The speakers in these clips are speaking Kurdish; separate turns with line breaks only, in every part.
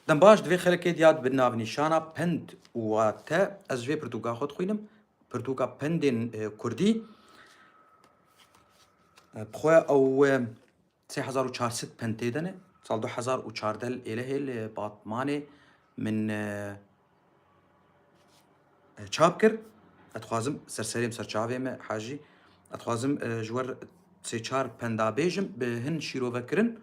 Dem baş divê xelkê diya dibin nav nîşana pind û wate. Ez ji vê pirtûka xwe dixwînim. Pirtûka pindên e, kurdî. E, bi xwe ew e, 3400 pind tê de ne. Sal 2014 li Êlehê li Batmanê min e, çap kir ez dixwazim serserê em ser çavê me hajî ez dixwazim ji wer sê çar penda bêjim bi hin şîrovekirin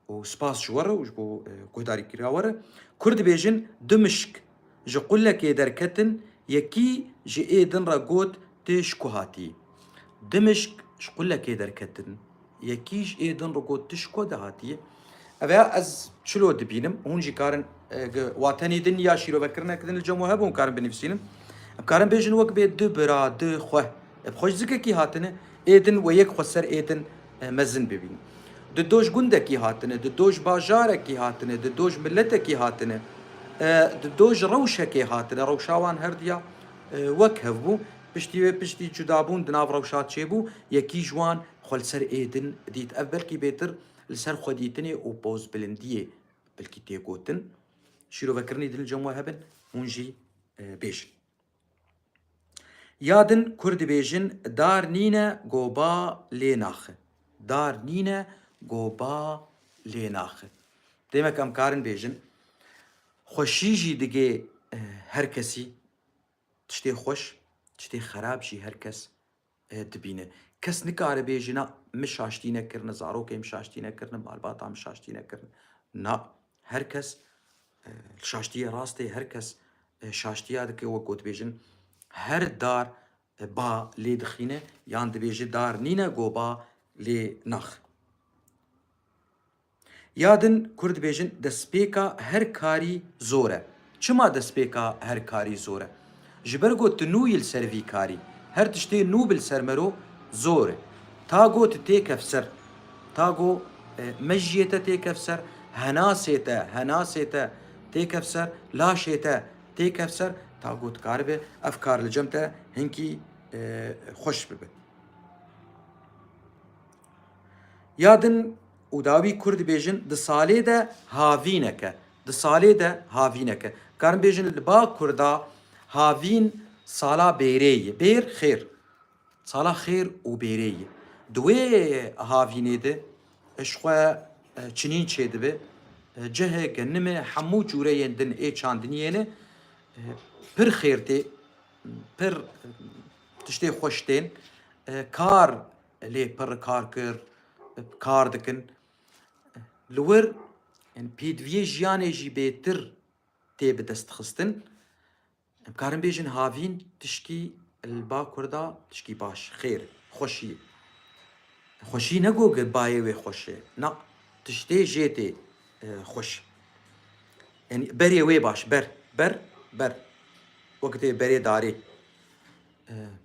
û spas ji we re û ji bo guhdarîkirina we re Kurd dibêjin du mişk ji qulekê derketin yekî ji ê din re got tu ji ku hatî? Du mişk ji qulekê derketin Yekî ji ê din riko tu ji ku dihatiye? Ev ya ez çilo dibînim. Hûn jî karin e, watenî din ya şîroverkirinek din li cem we hebûn karin binivîsînin. Em karin bêjin wek bê du bira, du xwe. Ev xwe ji zikekî hatine. Ê din we yek xwe ser ê din e, mezin bibînin. Du doj gundekî hatine, du doj bajarekî hatine, du doj miletekî hatine. E, du doj rewşekê hatine. Rewşa wan her diya e, wek hevbû. Piştî wê piştî cudabûn di nav rewşa çêbû. Yekî ji wan Xwe li ser êdin dît. Ev belkî bêtir li ser xwedîtinê û pozbilindiyê belkî tê gotin. Şîrovekirinî din li cem we hebin, hûn jî bêjin. Ya din Kurd dibêjin dar nîne go ba lê naxi. Dar nîne go ba lê naxi. Demek em karin bêjin xweşî jî digê her kesî. Tiştê xweş, tiştê xerab jî her kes dibîne. Kes nikare bêje na min şaştî nekirine, zarokê min şaştî nekirine, malbata min şaştî nekirine. Na, her kes li şaştiyê rast ê, her kes şaştiya dike wek ku dibêjin her dar ba lê dixîne yan dibêje dar nîne ku ba lê naxe. Ya din Kurd dibêjin destpêka her karî zor e. Çima destpêka her karî zor e? Ji ber ku tu nûyî li ser vî karî. Her tiştê nû bi li ser mero zor e. Ta ku tu têkef ser, ta ku mejiyê te têkef ser, henasê te, henasê te têkef ser, laşê te têkef ser, ta ku dikaribe ev kar li cem te hinkî xweş bibe. Ya din. Û dawî kurd dibêjin di salê de havîneke, di salê de havîneke. Karin bêjin li ba kurda havîn sala bêrê ye. Bêr xêr. Sala xêr û bêrê ye. Di wê havînê de ji xwe çinîn çêdibe. Cihê genime hemû cûreyên din ê çandiniyê ne pir xêr tê, pir tiştê xweş tên. Kar lê pir kar kir, kar dikin. Li wir yani pêdiviyê jiyanê jî bêtir tê bi dest xistin. Em karin bêjin havîn tişkî li Bakur da tişkî baş, xêr, xweşî. Xweşî ne go ki bayê wê xweş e. Na, tiştê jê tê xweş. Yani berê wê baş, ber, ber, ber. Wek tê berê darê.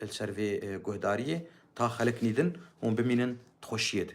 Li ser vê guhdariyê ta xelk nîdin hûn bimînin di xweşiyê de.